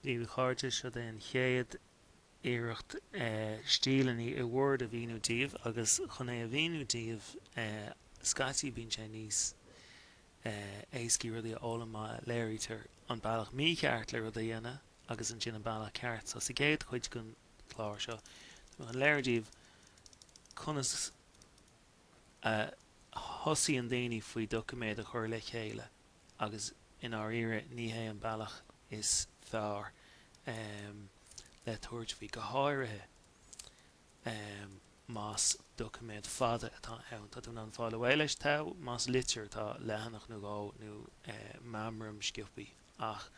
Dia dhaoibh a chairde, seod é an chéad iarracht stíleanna i Word a mhíniú daoibh agus chun é a mhíniú daoibh scaití bíonn sé níos éascaí rudaí a fhoghlaim má léirítear an bealach mícheart le rud a dhéanamh agus ansin an bealach ceart. So sa gcéad chuid den chlár seo tá mé chun léiriú daoibh conas a thugann daoine faoi doiciméad a chur le chéile. agus i ndáiríre ní hé an bealach is fearr le tabhairt faoi, go háirithe más doiciméad fada atá ann. Tá tú in ann fáil away leis, más litir atá, leathanach nó dhó, nó meamram sciopthaí, ach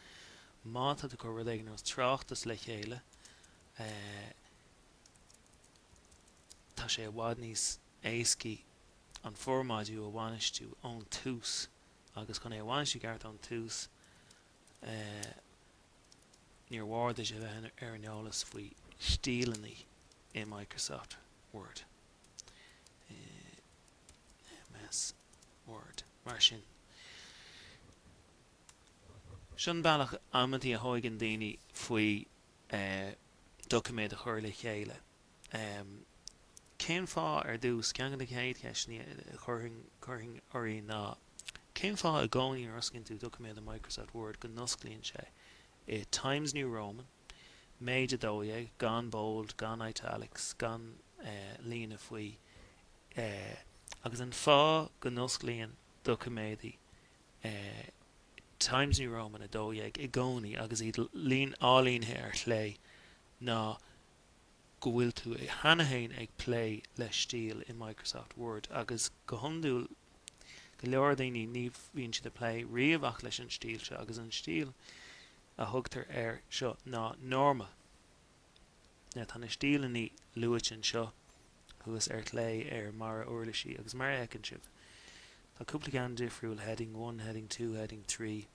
má tá tú ag cur rud éigin ar nós tráchtas le chéile tá sé i bhfad níos éascaí an formáidiú a bhainistiú ón tús. agus chun é a bhainistiú i gceart ón tús, níor mhór duit a bheith ar an eolas faoi stíleanna i Microsoft Word, i MS Word, mar sin. Seo an bealach amantaí a thugann daoine faoi doiciméad a chur le chéile. Cén fáth, ar dtús, ceann de na chéad cheisteanna a chuirfinn oraibh ná, cén fáth i gcónaí nuair a osclaíonn tú doiciméad i Microsoft Word go n-osclaíonn sé i Times New Roman, méid 12, gan bold, gan italics, gan líne faoi, agus an fáth go n-osclaíonn doiciméadaí i Times New Roman 12 i gcónaí agus iad líne ailínithe ar chlé ná go bhfuil tú cheana féin ag plé le stíl i Microsoft Word, agus go hiondúil, go leor daoine, ní bhíonn siad ag plé riamh ach leis an stíl seo, agus an stíl a thugtar air seo ná Normal. Now, tá na stíleanna luaite anseo thuas ar chlé ar an mBarra Uirlisí, agus mar a fheiceann sibh, tá cúpla ceann difriúil, Heading One, Heading Two, Heading Three,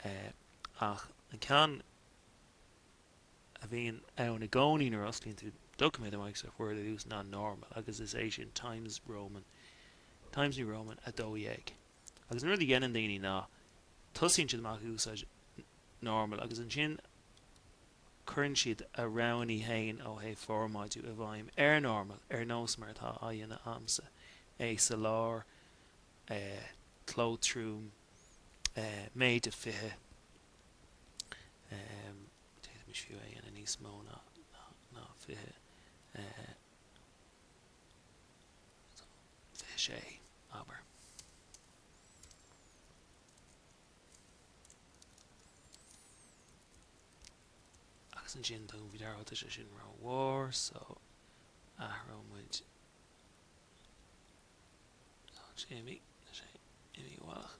ach an ceann. a bhíonn ann i gcónaí nuair a osclaíonn tú doiciméad i Microsoft Word ar dtús ná normal, agus is é sin Times Roman, Times New Roman 12. Agus an rud a dhéanann daoine ná tosaíonn siad amach ag úsáid normal agus ansin cuireann siad a roghanna féin ó thaobh formáidiú i bhfeidhm ar normal, ar nós mar atá á dhéanamh a'msa, é sa lár, eh, cló trom, eh, méid a 20. d'fhéadfaimis fiú é a dhéanamh níos mó ná 20, 26, abair. Agus ansin tugaim faoi deara, tá sé sin ró-mhór, so athróidh muid Tá sé imithe, tá sé imithe ualach.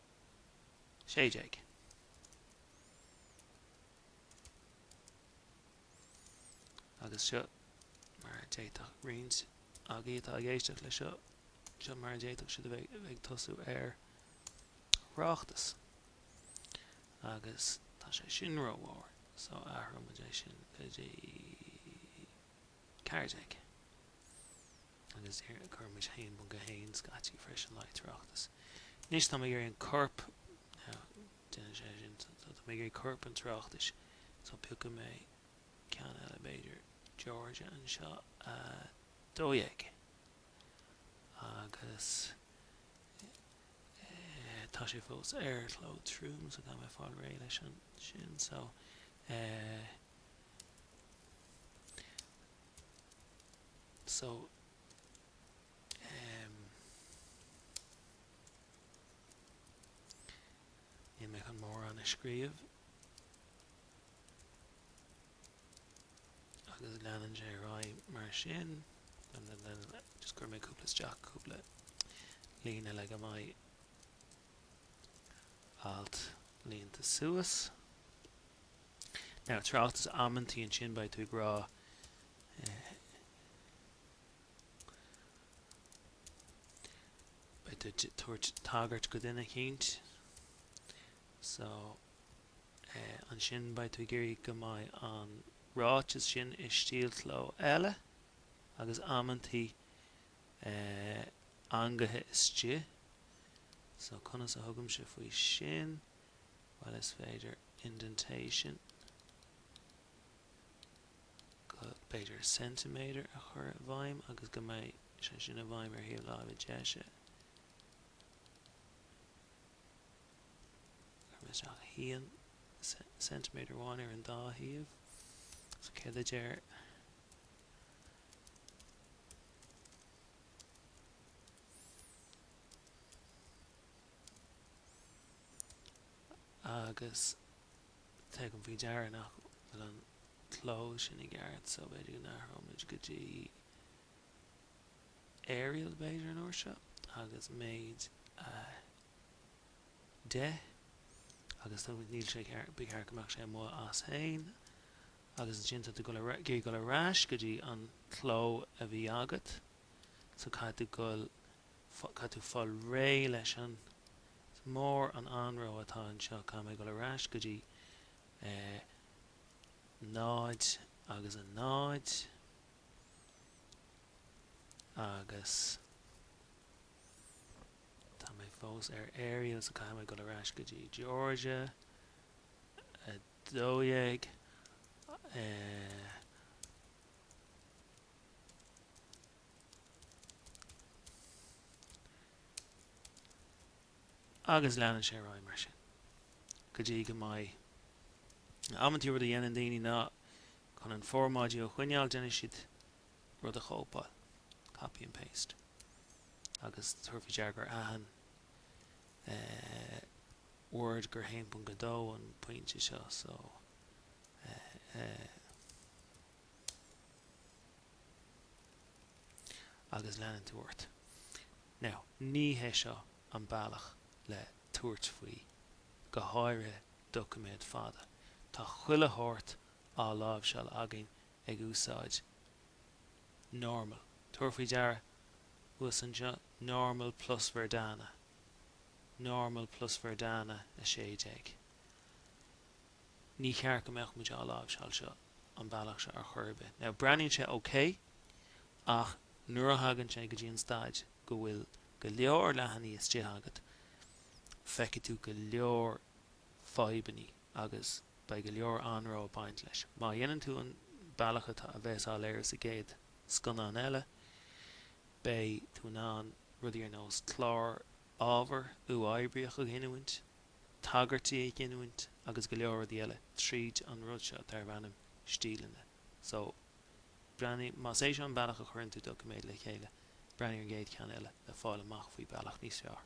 16. Agus seo mar a d'fhéadfadh roinnt agaibh atá ag éisteacht le seo, seo mar a d'fhéadfadh siad a bheith ag tosú ar thráchtas. Agus tá sé sin rómhór, so athróimid é sin go dtí 14. Agus déarfainn cuirfidh muid 1.1 scaití freisin le haghaidh tráchtas. Anois táim ag iarraidh an corp, nó déanann sé sin, so táim ag iarraidh corp an tráchtais, so piocfaidh mé ceann eile b'fhéidir, Georgia anseo, 12. Agus eh tá sé fós ar chló trom so caithfidh mé fáil réidh leis ansin, so eh. So, em. níl mé chun mórán a scríobh. Agus leanann sé ar aghaidh mar sin. Just cuirfidh mé cúpla isteach cúpla líne le go mbeidh Alt líonta suas. Now i dtráchtas amantaí ansin beidh tú ag rá eh, beidh tú ag tabhairt tagairt go duine eicínt so eh, ansin beidh tú ag iarraidh go mbeidh an ráiteas sin i stíl cló eile agus amantaí eh, eangaithe istigh, so conas a thugaimse faoi sin, bhuel is féidir indentation go, b'fhéidir centimeter a chur i bhfeidhm agus go mbeidh sé sin i bhfeidhm ar thaobh láimhe deise, cuirim isteach haon centimeter amháin ar an dá thaobh, so céard a deir. Agus tugaim faoi deara nach bhfuil an cló sin i gceart, so b'fhéidir go n-athróimid go dtí Arial, b'fhéidir, an uair seo, agus méid 10. Agus tá níl sé ba cheart go mbeadh sé amuigh as féin. agus ansin tá tú ag dul ar ais go dtí an cló a bhí agat, so caithfidh tú dul, caithfidh tú fáil réidh leis an, an mór an anró atá anseo, caithfidh mé dul ar ais go dtí 0 agus 0 agus tá mé fós ar Arial, so caithfidh mé dul ar ais go dtí Georgia, 12 agus leanann sé ar aghaidh mar sin go dtí go mbeidh amantaí rud a dhéanann daoine ná chun an formáidiú a choinneáil déanann siad rud a chóipeáil copy and paste agus tabhair faoi deara gur aithin word gur 1.2 an pointe seo so agus leanann tú ort. Now, ní hé seo an bealach le tabhairt faoi, go háirithe doiciméad fada. Tá chuile shórt á láimhseáil againn ag úsáid normal, tabhair faoi deara thuas anseo normal plus Verdana. normal plus Verdana 16. Ní cheart go mbeadh muid á láimhseáil seo an bealach seo ar chor ar bith. Now breathnaíonn sé ok ach nuair a thagann sé go dtí an staid go bhfuil go leor leathanaigh istigh agat feicfidh tú go leor fadhbannaí agus beidh go leor anró ag baint leis. Má dhéanann tú an bealach atá a bheas á léiriú sa gcéad scannán eile, Beidh tú in ann rudaí ar nós clár ábhair uathoibríoch a ghiniúint, tagairtí a ghiniúint agus go leor rudaí eile tríd an rud seo darb ainm Stíleanna. So, breathnaigh, más é seo an bealach a chuireann tú doiciméad le chéile, breathnaigh ar an gcéad cheann eile le fáil amach faoi bealach níos fearr.